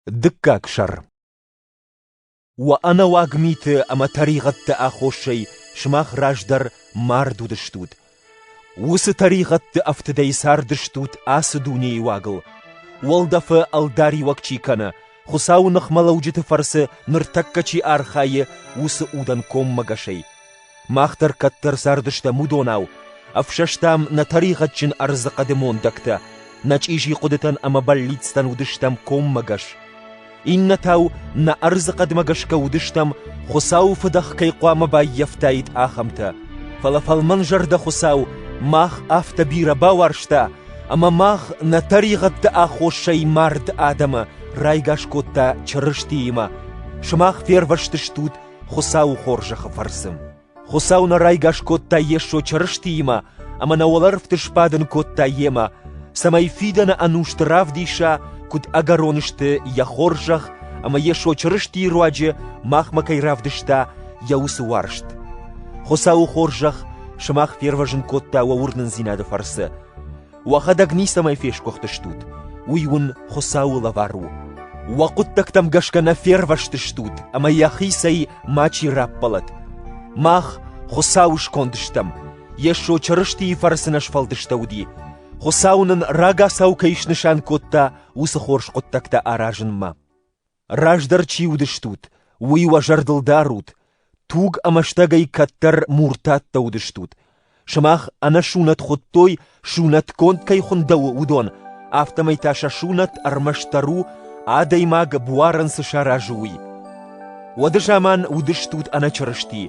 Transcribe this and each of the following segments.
Дыккаг сӕр Уӕ ӕнӕуаг миты ӕмӕ тӕригъӕдты аххосӕй сымах раздӕр мард уыдыстут. Уыцы тӕригъӕдты ӕфтыдӕй цардыстут ацы дунейы уагыл. Уӕлдӕфы ӕлдариуӕг чи кӕны, Хуыцауы ныхмӕлӕуджыты фӕрцы ныртӕккӕ чи архайы, уыцы удӕн коммӕгӕсӕй. Мах дӕр кӕддӕр цардыстӕм уыдонау, ӕфсӕстам нӕ тӕригъӕдджын ӕрдзы хъӕды мондӕгтӕ, нӕ чъизи хъуыдытӕн ӕмӕ бӕллицтӕн уыдыстӕм коммӕгӕс. Иннӕтау нӕ ӕрдзы хъӕдмӕ гӕсгӕ уыдыстӕм, Хуыцауы фыдӕх кӕй хъуамӕ баййӕфтаид, ахӕмтӕ. Фӕлӕ фӕлмӕнзӕрдӕ Хуыцау мах афтӕ бирӕ бауарзта, ӕмӕ мах нӕ тӕригъӕдты аххосӕй мард адӕмы райгас кодта Чырыстиимӕ. Сымах фервӕзтыстут Хуыцауы хорзӕхы фӕрцы. Хуыцау нӕ райгас кодта Йесо Чырыстиимӕ ӕмӕ нӕ уӕлӕрвты сбадын кодта Йемӕ, цӕмӕй фидӕны ӕнусты равдиса, куыд ӕгӕрон сты Йӕ хорзӕх ӕмӕ Йесо Чырыстийы руаджы махмӕ кӕй равдыста Йӕ уыцы уарзт. Хуыцауы хорзӕх сымах фервӕзын кодта уӕ уырнындзинады фӕрцы. Уӕхӕдӕг ницӕмӕй фесгуыхтыстут, уый уын Хуыцауы лӕвар у. Уӕ хъуыддӕгтӕм гӕсгӕ нӕ фервӕзтыстут ӕмӕ йӕхицӕй мачи раппӕлӕт. Мах Хуыцауы сконд стӕм, Йесо Чырыстийы фӕрцы нӕ сфӕлдыстӕуыди. Хуыцау нын рагацау кӕй снысан кодта, уыцы хорз хъуыддӕгтӕ аразынмӕ. Раздӕр чи уыдыстут, уый уӕ зӕрдыл дарут, туг ӕмӕ стӕгӕй кӕддӕр муртаттӕ уыдыстут. Сымах ӕнӕсунӕт хуыдтой, сунӕтгонд кӕй хуындӕуы, уыдон, афтӕмӕй та сӕ сунӕт ӕрмӕстдӕр у, адӕймаг буарӕн цы саразы, уый. Уӕды заман уыдыстут ӕнӕчырысти,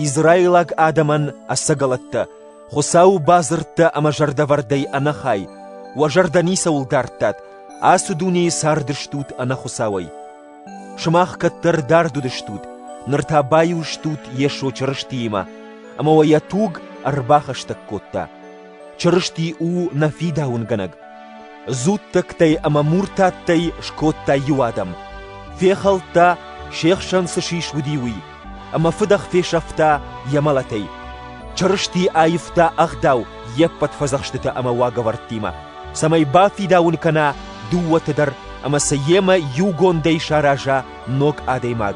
израилаг адӕмӕн ӕцӕгӕлӕттӕ, Хуыцауы бадзырдтӕ ӕмӕ зӕрдӕвӕрдӕй ӕнӕхай, уӕ зӕрдӕ ницӕуыл дардтат, ацы дунейы цардыстут ӕнӕ Хуыцауӕй. Сымах кӕддӕр дард уыдыстут, ныр та баиу стут Йесо Чырыстиимӕ, ӕмӕ уӕ йӕ туг ӕрбахӕстӕг кодта. Чырысти у нӕ фидауынгӕнӕг. дзуттӕгтӕй ӕмӕ муртаттӕй скодта иу адӕм, фехӕлдта, се хсӕн цы сис уыди, уый, ӕмӕ фыдӕх фесӕфта йӕ мӕлӕтӕй. Чырысти аивта ӕгъдау йе ппӕт фӕдзӕхстытӕ ӕмӕ уагӕвӕрдтимӕ, цӕмӕй бафидауын кӕна дыууӕты дӕр ӕмӕ сӕ йемӕ иугондӕй сараза ног адӕймаг.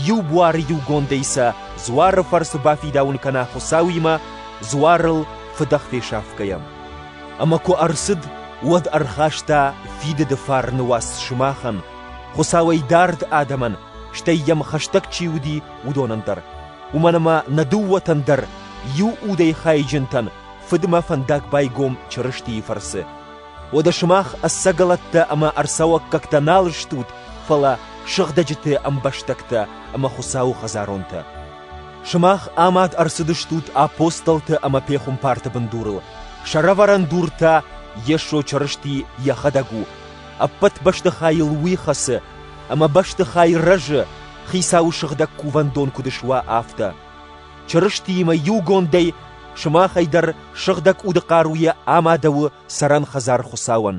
Иу буары иугондӕй сӕ дзуары фӕрцы бафидауын кӕна Хуыцауимӕ, дзуарыл фыдӕх фесӕфгӕйӕ. Ӕмӕ куы ӕрцыд, уӕд ӕрхаста фидыды фарны уац сымахӕн, Хуыцауӕй дард адӕмӕн, стӕй йӕм хӕстӕг чи уыди, уыдонӕн дӕр. Уымӕн ӕмӕ нӕ дыууӕтӕн дӕр, иу удӕй хайджынтӕн, Фыдмӕ фӕндаг байгом Чырыстийы фӕрцы. Уӕдӕ сымах ӕцӕгӕлӕттӕ ӕмӕ ӕрцӕуӕггӕгтӕ нал стут, фӕлӕ сыгъдӕджыты ӕмбӕстӕгтӕ ӕмӕ Хуыцауы хӕдзаронтӕ. Сымах амад ӕрцыдыстут апостолты ӕмӕ пехуымпарты бындурыл, сӕрӕвӕрӕн дур та Йесо Чырысти йӕхӕдӕг у, ӕппӕт бӕстыхайыл уый хӕцы, ӕмӕ бӕстыхай рӕзы, Хицауы сыгъдӕг кувӕндон куыд суа, афтӕ. Чырыстиимӕ иугондӕй сымахӕй дӕр сыгъдӕг уды хъаруйӕ амадӕуы цӕрӕн хӕдзар Хуыцауӕн.